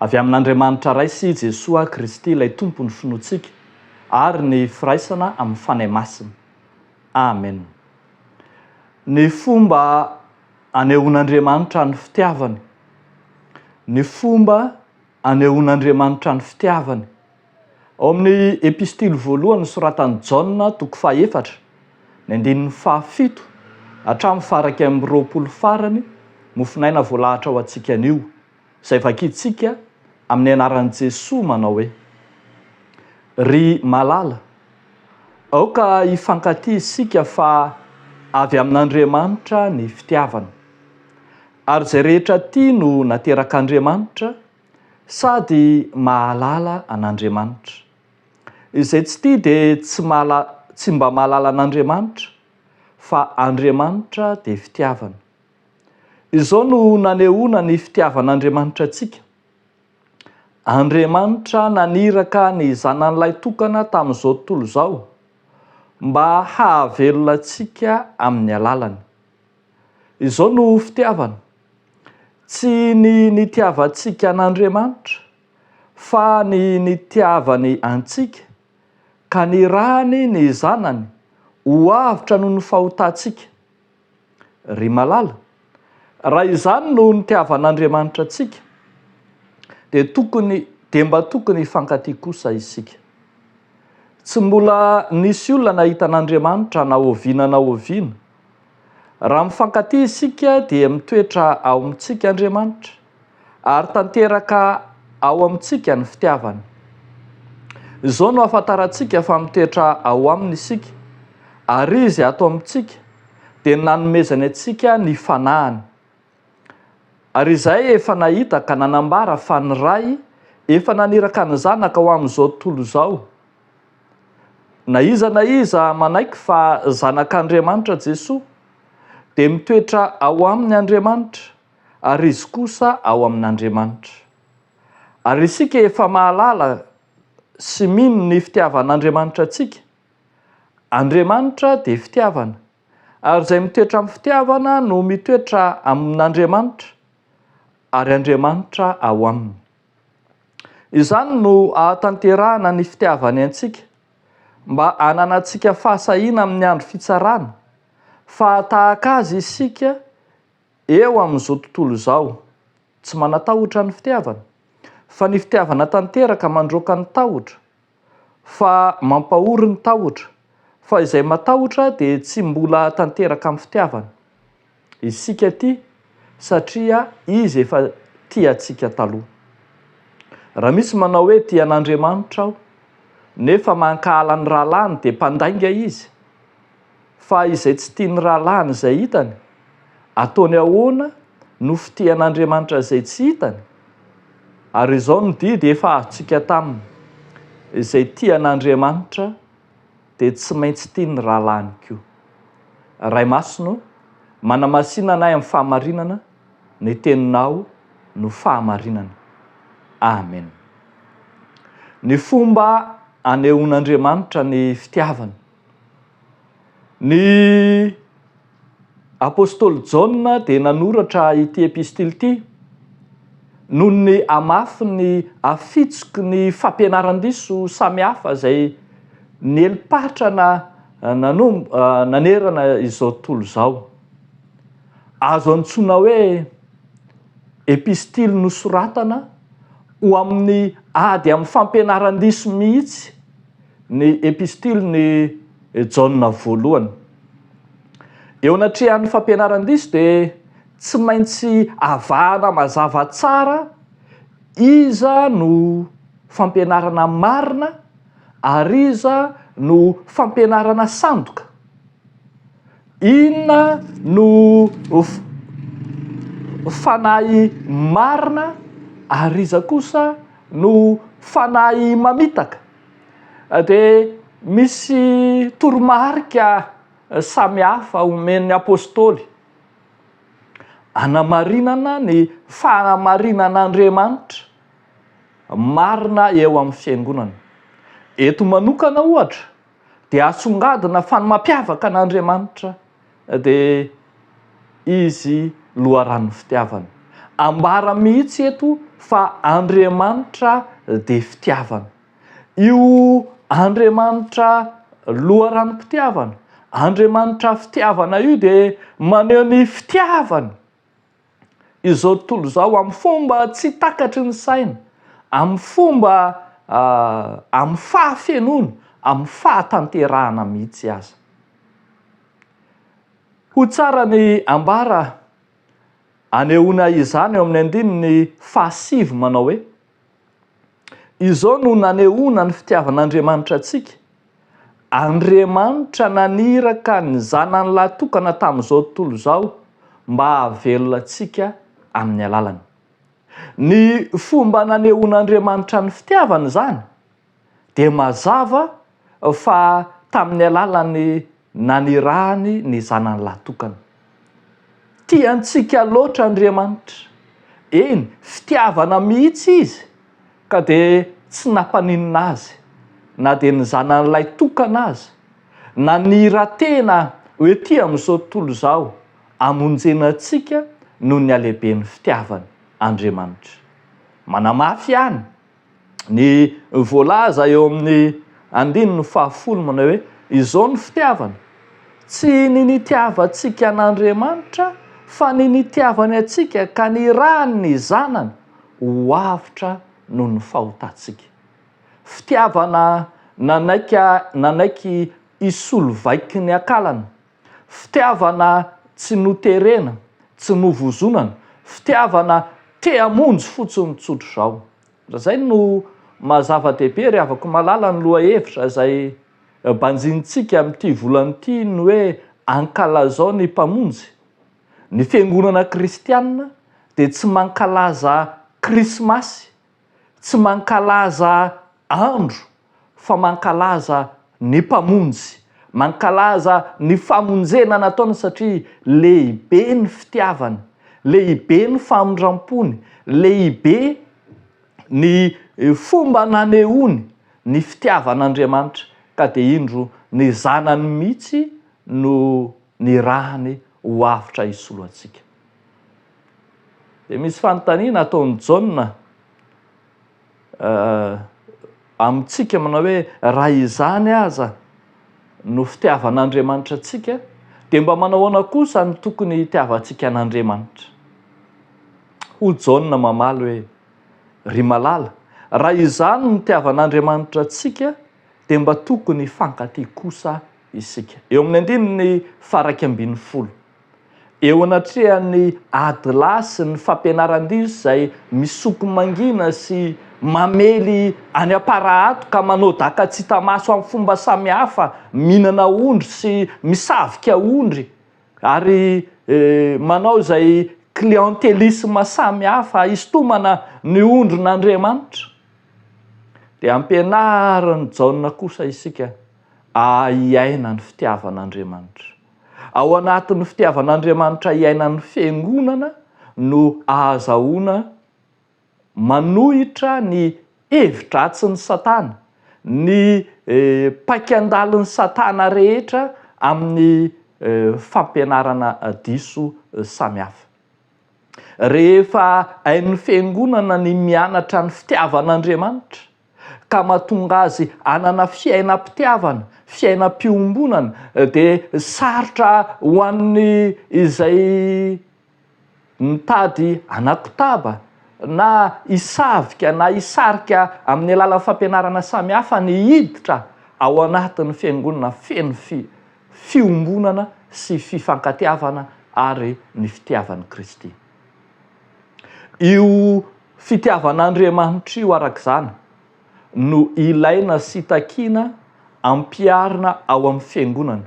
Avy amin'Andriamanitra Ray sy Jesoa Kristy ilay Tompon'ny finoantsika ary ny firaisana amin'ny Fanahy Masina. Amen. Ny fomba anehoan'Andriamanitra ny fitiavany. Ny fomba anehoan'Andriamanitra ny fitiavany. Ao amin'ny Epistily voalohany nosoratan'i Jaona, toko fahefatra, ny andininy fahafito hatramin'ny faha iraika amby roapolo farany, mofon'aina voalahatra ho antsika anio. izay vakintsika amin'ny anaran'i Jesoa manao hoe, Ry malala, aoka hifankatia isika fa avy amin'Andriamanitra ny fitiavana. Ary izay rehetra tia no naterak'Andriamanitra sady mahalala an'Andriamanitra. Izay tsy tia dia tsy tsy mba mahalala an'Andriamanitra fa Andriamanitra dia fitiavana. Izao no nanehoana ny fitiavan'Andriamanitra antsika, Andriamanitra naniraka ny Zanany Lahitokana tamin'izao tontolo izao mba hahavelona antsika amin'ny alalany. Izao no fitiavana, tsy ny nitiavantsika an'Andriamanitra, fa ny nitiavany antsika ka nirahany ny Zanany ho avotra noho ny fahotantsika. Ry malala, raha izany no nitiavan'Andriamanitra antsika, dia tokony, dia mba tokony hifankatia kosa isika. Tsy mbola nisy olona nahita an'Andriamanitra na oviana na oviana. Raha mifankatia isika dia mitoetra ao amintsika Andriamanitra. Ary tanteraka ao amintsika ny fitiavana. Izao no ahafantarantsika fa mitoetra ao Aminy isika, ary Izy ato amintsika, dia ny nanomezany antsika ny Fanahiny. Ary izahay efa nahita ka nanambara fa ny Ray efa naniraka ny Zanaka ho amin'izao tontolo izao. Na iza na iza manaiky fa Zanak'Andriamanitra Jesoa, dia mitoetra ao Aminy Andriamanitra. ary izy kosa ao amin'Andriamanitra. Ary isika efa mahalala sy mino ny fitiavan'Andriamanitra antsika. Andriamanitra dia fitiavana, ary izay mitoetra amin'ny fitiavana no mitoetra amin'Andriamanitra, ary Andriamanitra ao aminy. Izany no ahatanterahana ny fitiavany antsika, mba hananantsika fahasahiana amin'ny andro fitsarana, fa tahaka Azy isika, Eo amin'izao tontolo izao, tsy manatahotra ny fitiavana, fa ny fitiavana tanteraka mandroaka ny tahotra, fa mampahory ny tahotra, fa izay matahotra dia tsy mbola tanteraka amin'ny fitiavana. Isika tia satria Izy efa tia antsika taloha. Raha misy manao hoe tia an'Andriamanitra aho, nefa mankahala ny rahalahiny dia mpandainga izy. Fa izay tsy tian'ny rahalahiny izay hitany, ataony ahoana no fitehan'Andriamanitra izay tsy hitany? Ary izao no didy efa azontsika taminy, Izay tia an'Andriamanitra dia tsy maintsy tia ny rahalahiny koa. Ray Masina ô, manamasina anay amin'ny fahamarinana, ny Teninao no fahamarinana. Amen. Ny fomba anehoan'Andriamanitra ny fitiavany. Ny apostoly Jaona dia nanoratra ity epistily ity noho ny hamafin'ny hafitsiky ny fampianaran-diso samihafa izay nieli-patrana nanerana izao tontolo izao. Azo antsoina hoe epistily nosoratana ho amin'ny ady amin'ny fampianaran-diso mihitsy. Ny Epistilin' i Jaona Voalohany. Eo anatrehan' ny fampianaran-diso dia tsy maintsy avahana mazava tsara iza no fampianarana marina ary iza no fampianarana sandoka. Inona no fanahy marina ary iza kosa no fanahy mamitaka? dia misy toromarika samihafa omen'ny apostoly hanamarinana ny fanamarinan'Andriamanitra marina eo amin'ny fiangonana. Eto manokana ohatra dia asongadina fa ny mampiavaka an'Andriamanitra Dia izy loharanon'ny fitiavana. Ambara mihitsy eto fa Andriamanitra dia fitiavana. Io Andriamanitra loharanom-pitiavana, Andriamanitra fitiavana io dia maneho ny fitiavany. izao tontolo izao amin'ny fomba tsy takatry ny saina, amin'ny fomba amin'ny fahafenoana, amin'ny fahatanterahana mihitsy aza. Ho tsara ny ambara anehoana izany eo amin'ny andininy fahasivy manao hoe. Izao no nanehoana ny fitiavan'Andriamanitra antsika, Andriamanitra naniraka ny Zanany lahytokana tamin'izao tontolo izao mba hahavelona antsika amin'ny alalany. Ny fomba nanehoan'Andriamanitra ny fitiavany izany dia mazava fa tamin'ny alalan'ny nanirahany ny zanany lahy tokana. Tia antsika loatra Andriamanitra, eny, fitiavana mihitsy Izy ka dia tsy nampaninona Azy na dia ny zanany lahy tokana aza, nanira-tena ho ety amin'izao tontolo izao hamonjena antsika noho ny halehiben'ny fitiavany Andriamanitra. Manamafy ihany ny voalaza eo amin'ny andininy fahafolo manao hoe, Izao ny fitiavana, tsy ny nitiavantsika an'Andriamanitra, fa ny nitiavany antsika ka nirahany ny Zanany ho avotra noho ny fahotantsika. Fitiavana nanaiky nanaiky hisolo vaiky ny akalany. Fitiavana tsy noterena, tsy novozonana, fitiavana te hamonjy fotsiny tsotra izao. Izay no maha zava-dehibe ry havako malala ny lohahevitra izay banjinintsika amin'ity volana ity ny hoe ankalazao ny Mpamonjy. Ny Fiangonana Kristianina dia tsy mankalaza Krismasy Tsy mankalaza andro fa mankalaza ny Mpamonjy. Mankalaza ny famonjena nataony satria lehibe ny fitiavany, lehibe ny famindram-pony, lehibe ny fomba nanehoany ny fitiavan'Andriamanitra ka dia indro ny Zanany mihitsy no nirahany ho avotra hisolo antsika. Dia misy fanontaniana ataon'i Jaona amintsika manao hoe, raha izany aza no fitiavan'Andriamanitra antsika, dia mba manao ahoana kosa no tokony hitiavantsika an'Andriamanitra? Hoy Jaona mamaly hoe, Ry malala, raha izany no nitiavan'Andriamanitra antsika, dia mba tokony hifankatia kosa isika. Eo amin'ny andininy faha iraika ambin'ny folo. Eo anatrehan'ny ady lahy sy ny fampianaran-diso izay misoko mangina sy mamely any Amparaato ka manao daka tsy hita maso amin'ny fomba samihafa, mihinana ondry sy misavika ondry ary manao izay clientélisme samihafa hisintomana ny ondrin'Andriamanitra dia ampianarin'i Jaona kosa isika hiaina ny fitiavan'Andriamanitra. Ao anatin'ny fitiavan'Andriamanitra iainan'ny Fiangonana no ahazahoana manohitra ny hevi-dratsin'i Satana, ny paikan-dalin'i Satana rehetra amin'ny fampianarana diso samihafa. Rehefa hain'ny Fiangonana ny mianatra ny fitiavan'Andriamanitra, ka mahatonga azy hanana fiainam-pitiavana, fiainam-piombonana, dia sarotra ho an'ny izay mitady hanakotaba na hisavika na hisarika amin'ny alalan'ny fampianarana samihafa ny hiditra ao anatin'ny fiangonana feno fiombonana sy fifankatiavana ary ny fitiavan'i Kristy. Io fitiavan'Andriamanitra io, araka izany, no ilaina sy takiana ampiharina ao amin'ny Fiangonana.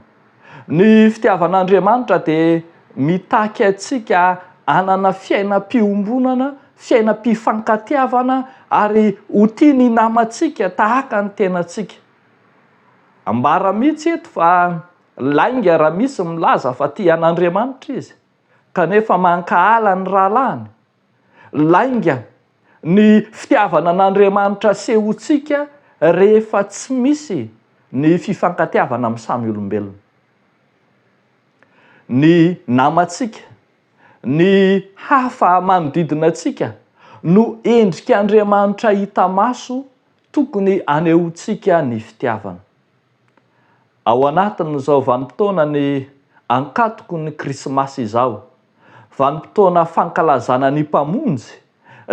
Ny fitiavan'Andriamanitra dia mitaky antsika hanana fiainam-piombonana, fiainam-pifankatiavana, ary ho tia ny namantsika tahaka ny tenantsika. Ambara mihitsy eto fa lainga raha misy milaza fa tia an'Andriamanitra izy. kanefa mankahala ny rahalahiny? Lainga ny fitiavana an'Andriamanitra asehontsika rehefa tsy misy ny fifankatiavana amin'ny samy olombelona. Ny namantsika, ny hafa manodidina antsika no endrik'Andriamanitra hita maso tokony anehoantsika ny fitiavana. Ao anatin'izao vanim-potoana ny Ankatoky ny Krismasy izao, vanim-potoana fankalazana ny Mpamonjy,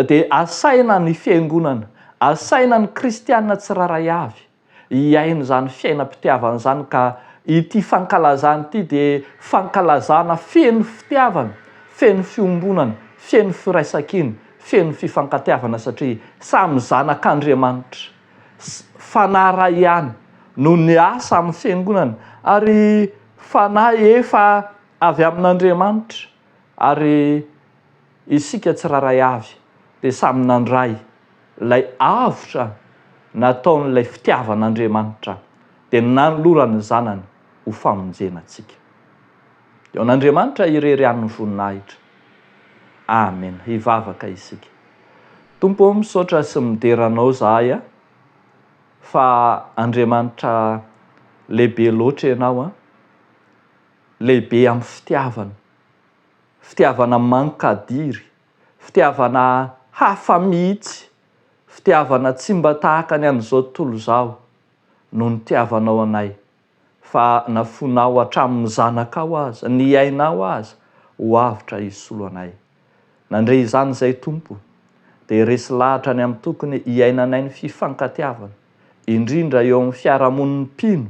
dia asaina ny Fiangonana, asaina ny Kristiana tsirairay avy hiaina izany fiainam-pitiavana izany ka ity fankalazana ity dia fankalazana feno fitiavana, feno fiombonana, feno firaisankina, feno fifankatiavana satria samy zanak'Andriamanitra. sy fanahy iray ihany no niasa amin'ny Fiangonana ary fanahy efa avy amin'Andriamanitra ary isika tsirairay avy dia samy nandray ilay avotra nataon'ilay fitiavan'Andriamanitra dia nanolorany ny Zanany ho famonjena antsika. Eo an'Andriamanitra irery ihany ny voninahitra. Amena. Hivavaka isika. Tompo ô, misaotra sy midera Anao zahay a, fa Andriamanitra lehibe loatra Ianao a, lehibe amin'ny fitiavana, fitiavana mankadiry, fitiavana hafa mihitsy, fitiavana tsy mba tahaka ny an'izao tontolo izao, noho ny nitiavanao anay. fa na fonao hatramin'ny zanakao aza, ny ainao aza, ho avotra hisolo anay. Nandre izany izay Tompo, dia resy lahatra ny amin'ny tokony hiainanay ny fifankatiavana, indrindra eo amin'ny fiarahamonin'ny mpino,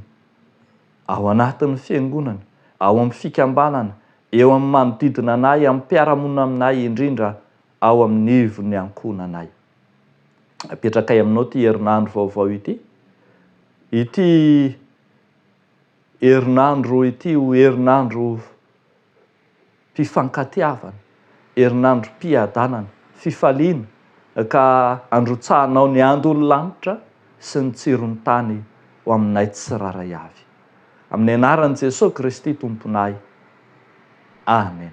ao anatin'ny fiangonana, ao amin'ny fikambanana, eo amin'ny manodidina anay, amin'ny mpiara-monina aminay, indrindra ao amin'ny ivon'ny ankohonanay. Apetrakay aminao ity herinandro vaovao ity. Ity herinandro ity ho herinandro fifankatiavana, herinandrom-piadanana, fifaliana ka handrotsahanao ny andon'ny lanitra sy ny tsiron'ny tany ho aminay tsirairay avy. Amin'ny anaran'i Jesoa Kristy Tomponay. Amen.